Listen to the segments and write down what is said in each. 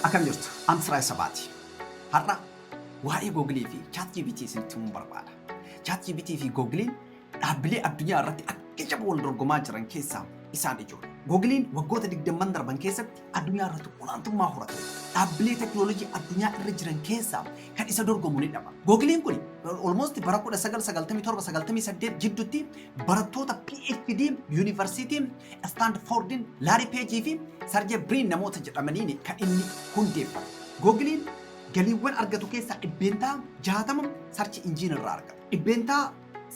Akkam jirtu? An Firaay Sabaati. Har'a waa'ee Google fi ChatGPT isinitti himuun barbaada. ChatGPT fi Google dhaabbilee addunyaa irratti akka jaba wal dorgomaa jiran keessaa isaan ijoodha. Google waggoota 20 darban keessatti addunyaa irratti olaantummaa horate. Dhaabbilee teknoolojii addunyaa irra jiran keessaa kan isa dorgomu ni dhaba. Google kun almost bara 1997-98 jidduutti barattoota PhD yuunivarsiitii Istaandfoordiin Laarii Peejii fi Sarjee Biriin namoota jedhamaniin kan inni hundeeffame. Googiliin galiiwwan argatu keessaa dhibbeentaa 60 sarchi injiin irraa argata. Dhibbeentaa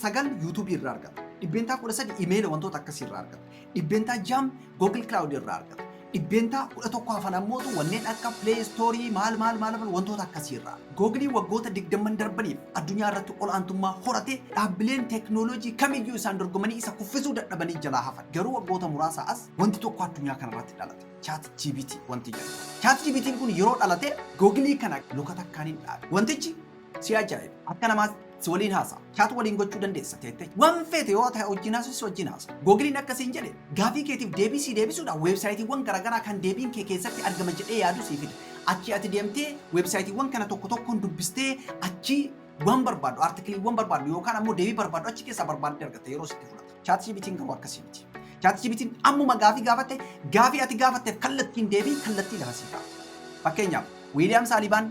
9 yuutuubii irraa argata. Dhibbeentaa 13 imeela wantoota akkasii irraa argata. Dhibbeentaa 6 Google Cloud irraa argata. Dhibbeentaa 11 hafan ammootu wanneen akka Play Store maal maal maal wantoota akkasii irraa. Google waggoota digdamman darbaniif addunyaa irratti ol'aantummaa horate, dhaabbileen teeknooloojii kamiyyuu isaan dorgomanii isa kuffisuu dadhabanii jalaa hafan. Garuu waggoota muraasaa as wanti tokko addunyaa kana irratti dhalate. ChatGPT wanti jedhamu. ChatGPT'n kun yeroo dhalate Google kana luka takkaan hin dhaabe. Wantichi si ajaa'iba. Akka namaatti. si waliin haasa'a. Chaat waliin gochuu dandeessa teettee. Waan feete yoo ta'e wajjin haasa'u si wajjin haasa'a. Googiliin akka siin jedhe gaafii keetiif deebii sii deebisuudhaan weebsaayitiiwwan garaagaraa kan deebiin kee keessatti argama jedhee yaadu sii fida. Achii ati deemtee weebsaayitiiwwan kana tokko tokkoon dubbistee achii waan barbaaddu artikiliiwwan barbaaddu yookaan ammoo deebii barbaaddu achi keessaa barbaaddee argatta yeroo sitti fudhata. Chaat jibitiin garuu akkasii miti. Chaat jibitiin ammuma gaafii gaafatte gaafii ati gaafatteef kallattiin deebii kallattii lama sii kaa'u. Fakkeenyaaf Wiiliyaam Saalibaan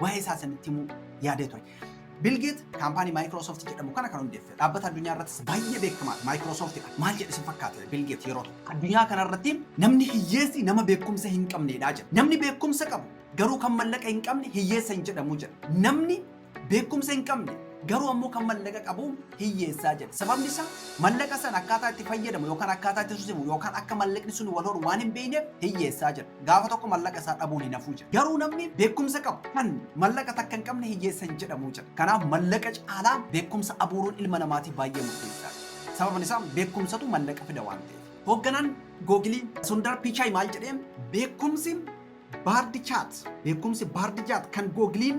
waa'ee isaa isinitti himuu yaadee ture. Bilgeet kaampaanii Maayikiroosoft jedhamu kana kan hundeesse dhaabbata addunyaa irrattis baay'ee beekamaa Maayikiroosoftidha. Maal jedhe isin fakkaate Bilgeet yeroo tokko. Addunyaa kanarratti namni hiyyeessi nama beekumsa hin qabneedha jedha. Namni beekumsa qabu garuu kan mallaqa hin qabne hiyyeessa hin jedhamu jedha. Namni beekumsa hin qabne Garuu ammoo kan mallaqa qabu hiyyeessaa jedhe. Sababni isaa mallaqa sana akkaataa itti fayyadamu yookaan akkaataa itti susimu yookaan akka mallaqni sun wal horu waan hin beekneef hiyyeessaa jedha. Gaafa tokko mallaqa isaa dhabuun hin hafuu jedha. Garuu namni beekumsa qabu kan mallaqa takka hin qabne hiyyeessa hin jedhamu jedha. Kanaaf mallaqa caalaa beekumsa abuuruun ilma namaatii baay'ee murteessaa dha. Sababni isaa beekumsatu mallaqa fida waan ta'eef. Hoogganaan Googilii Sundar Pichai maal jedhee beekumsi baardi chaat beekumsi baardi chaat kan Googiliin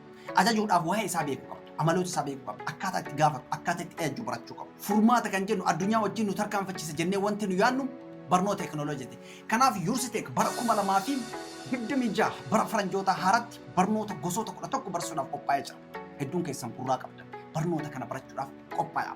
Ajajuudhaaf waa'ee isaa beekuu qabdu, amaloota isaa beekuu qabdu, akkaataa itti gaafatu, akkaataa itti ajajju barachuu qabdu. Furmaata kan jennu addunyaa wajjin nu tarkaanfachiisa jennee wanti nu yaadnu barnoota teekinooloojiiti. Kanaaf Yursiteek bara 2026 bara faranjootaa haaratti barnoota gosoota 11 barsiisuudhaaf qophaa'ee jira. Hedduun keessan gurraa qabdan barnoota kana barachuudhaaf qophaa'aa.